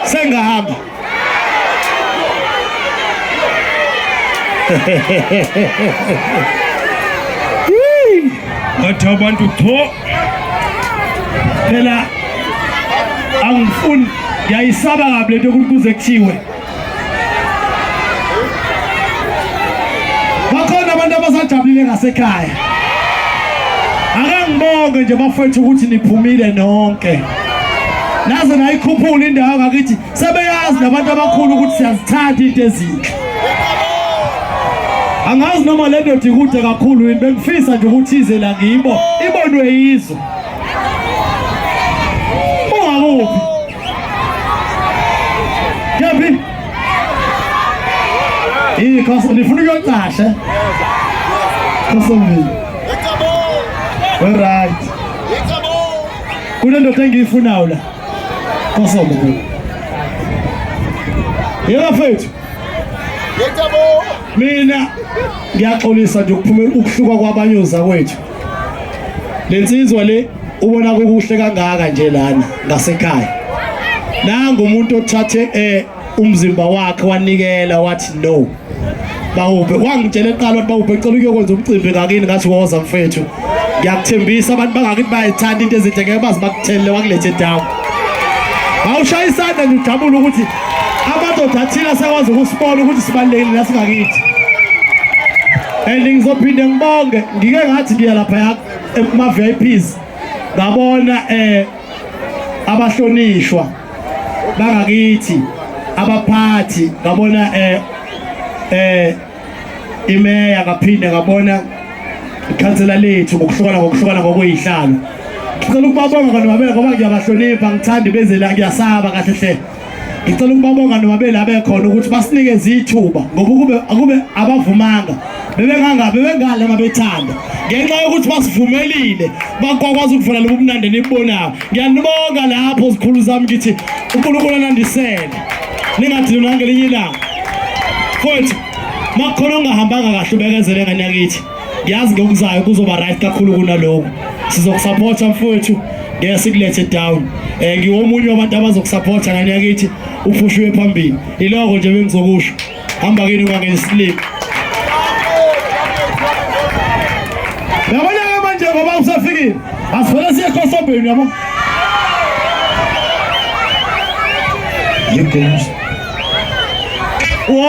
Sengahamba. Ngathi abantu tho phela angifuni ngiyayisaba kabi lento ukuthi kuze kuthiwe bakhona abantu abasajabulile ngasekhaya akangibonge nje bafethu ukuthi niphumile nonke naze nayikhuphula indawo ngakithi sebeyazi nabantu abakhulu ukuthi siyazithanda into ezinhle angazi noma le ndoda ikude kakhulu yini bengifisa nje ukuthi ize la ngibo ibonwe yizwe ungakuphi yaphi ikho ndifuna ukuyocashe khosomile weryt kunendoda engiyifunayo la kosombo yeba fethu mina ngiyaxolisa nje ukuphumela ukuhluka kwabanye ozakwethu le nsizwa le ubona kukuhle kangaka nje lana ngasekhaya nangu umuntu othathe eh umzimba wakhe wanikela wathi no bawuphe wangitshela eqala ukuthi bawuphe ecela ukuyokwenza umcimbi ngakini ngathi woza mfethu ngiyakuthembisa abantu bangakithi bayayithanda into ezinhle ngeke bazi bakuthelele wakulethe down bawushaya isandla nje ujabule ukuthi amadoda athile asakwazi ukusibona ukuthi sibalulekile la singakithi and ngizophinde ngibonge ngike ngathi ngiya lapha yakho kuma-vips ngabona um abahlonishwa bangakithi abaphathi ngabona eh eh imeya ngaphinde ngabona ikhansela lethu ngokuhlukana ngokuhlukana ngokuyihlalo ngicela ukubabonga kanobabeka ngoba ngiyabahlonipha ngithanda ibezela ngiyasaba kahle hle ngicela ukuba abongane babeli abekhona ukuthi basinikeze ithuba ngoba ukube akube abavumanga bebengangabe bengale mabethanda ngenxa yokuthi basivumelile bakwakwazi ukuvula lobu mnandi nibubonayo ngiyanibonga lapho zikhulu zami ngithi unkulunkulu anandisele ningadini nangelinye ilanga futhi makukhona ongahambanga kahle ubekezele ngane yakithi ngiyazi ngokuzayo kuzoba right kakhulu kunaloko sizokusupporta mfowethu ngeke sikulethe down um ngiwomunye wabantu abazokusupporta ngane yakithi uphushiwe phambili iloko nje bengizokusho hamba kini ungangeni slip yabona-ke manje ngoba usafikile asivele siye khosobheni yabo yegomusa